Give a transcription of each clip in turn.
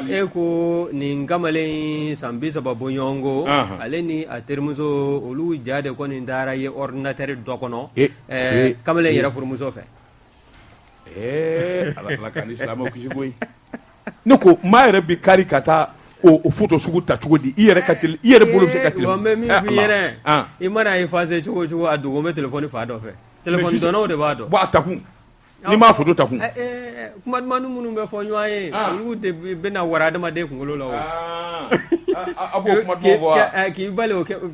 e ko nin kamalen san bi saba bɔɲɔgɔnko ale ni a terimuso olu ja de kɔni nin taara ye ordinateur dɔ kɔnɔ kamalen yɛrɛ furumuso fɛ ne ko maa yɛrɛ bɛ kari ka taa o foto sugu ta cogo di i ka i yɛrɛ bolo ka i mana a effacer cogo o cogo a dogo bɛ telefɔni fan dɔ fɛ telefɔni dɔnnaw de b'a dɔn a ta kun Ni m'a foto ta kun kuma dumanumani minnu bɛ fɔ ɲɔgɔn ye olu de bɛna wara adamaden kunkolo la k'i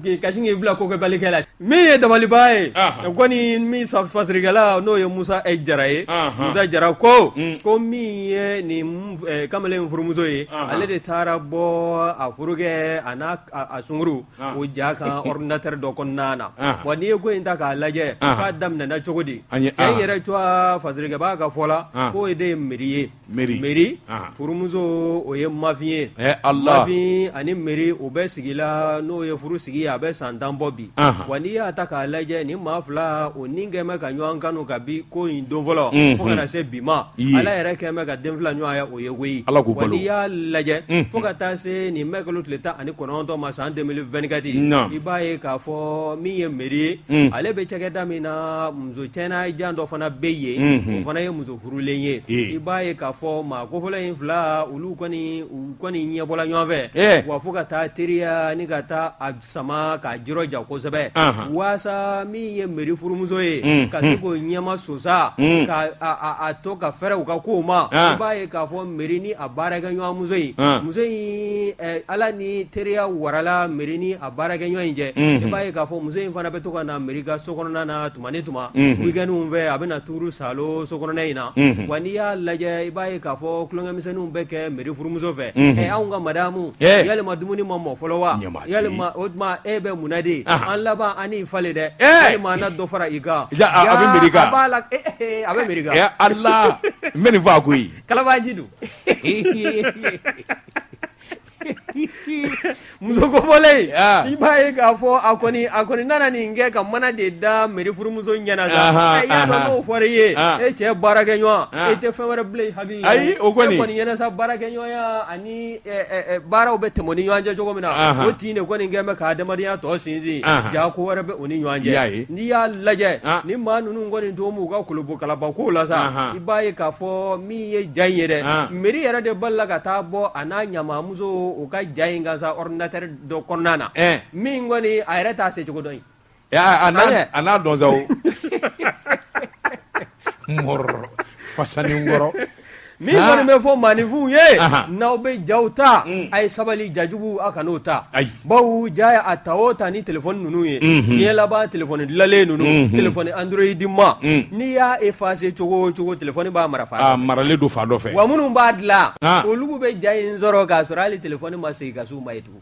k'i kasi k'i bila kokɛbali kɛ la min ye dabaliliba ye kɔni min faserikɛla n'o ye musa jara ye musa jara ko ko min ye nin kamalen furumuso ye ale de taara bɔ a furukɛ a n'a sungurun o ja kan ordinateur dɔ kɔnɔna na wa n'i ye ko in ta k'a lajɛ k'a daminɛna cogo di cɛ in yɛrɛ cogoya faserikɛbaa ka fɔ la k'o de ye meri ye meri furumuso o ye mafin ye mafin ani meri u bɛ sigi la n'o ye furu sigi a bɛ san tan bɔ bi wa n'i y'a ta k'a lajɛ ni maa fila kɔni kɛlen bɛ ka ɲɔgɔn kanu kabi ko in don fɔlɔ fo ka na se bi ma ala yɛrɛ kɛlen bɛ ka den fila ɲɔgɔn ye o ye koyi wa n'i y'a lajɛ fo ka taa se nin mɛkalo tile tan ani kɔ kɔnɔntɔn ma san deux mille vingt-quatre i b'a ye k'a fɔ min ye meri ye hmm. ale bɛ cakɛda min na muso cɛna jan dɔ fana bɛ yen hmm, hmm. o fana ye muso furulen ye i b'a ye k'a fɔ maa kofɔlen in fila olu kɔni u kɔni ɲɛbɔla ɲɔgɔn fɛ eh. wa fo ka taa teriya ni ka taa a sama k'a juru ja kosɛbɛ walasa min ye meri furumuso ye ka se k'o ɲɛma sosa ka a to ka fɛrɛ u ka kow ma i b'a ye k'a fɔ meri ni a baarakɛɲɔgɔn muso in muso in ala ni teriya warala meri ni a baarakɛɲɔgɔn in cɛ i b'a ye k'a fɔ muso in fana bɛ to ka na meri ka so kɔnɔna na tuma ni tuma wikɛniw fɛ a bɛ na tuuru sa so kɔnɔna in na wa n'i y'a lajɛ i b'a ye k'a fɔ tulonkɛmisɛnninw bɛ kɛ meri furumuso fɛ ɛ anw ka madamu yala dumuni ma mɔ fɔlɔ wa ya o tuma e bɛ mun na de an laban an fa dɛ walima n na dɔ fara i kan a bɛ mi ala n bɛ nin faa koyi Kalabaanci don. muso kofɔlen in ah. i b'a ye k'a fɔ a kɔni a kɔni nana nin kɛ ka mana de da meri furumuso ɲɛna sa i y'a dɔn n'o fɔra i ye ah. e cɛ baarakɛ ɲɔgɔn ah. e tɛ fɛn wɛrɛ bila i hakili la ayi o kɔni e kɔni ɲɛna sa baarakɛ ɲɔgɔnya ani Eh, eh, eh, baaraw bɛ tɛmɛ ni ɲɔgɔn cɛ cogo min na o tin de kɔni kɛ bɛ ka adamadenya tɔ sinsin jaa ko wɛrɛ bɛ u ni ɲɔgɔn cɛ n'i y'a lajɛ ah. ni maa ninnu kɔni to u ka kolobo kalaba ko la sa i b'a ye k'a fɔ min ye ja in yɛrɛ ah. meri yɛrɛ de balala ka taa bɔ a n'a ɲamamuso u ka ja in kan sa ordinateur dɔ kɔnɔna na min kɔni a yɛrɛ t'a se cogo dɔn a n'a dɔn sa fasankɔrɔ ni kɔni bɛ fɔ maaninfin ye n'aw bɛ ja ta a ye sabali jajugu a kan'o ta bawo ja a ta o ta ni telefɔni ninnu ye diɲɛ laban telefɔni dilanlen ninnu telefɔni android ma n'i y'a efase cogo o cogo telefɔni b'a mara maralen don fan dɔ fɛ wa minnu b'a dilan olu bɛ ja in sɔrɔ k'a sɔrɔ hali telefɔni ma segin ka se u ma ye tugun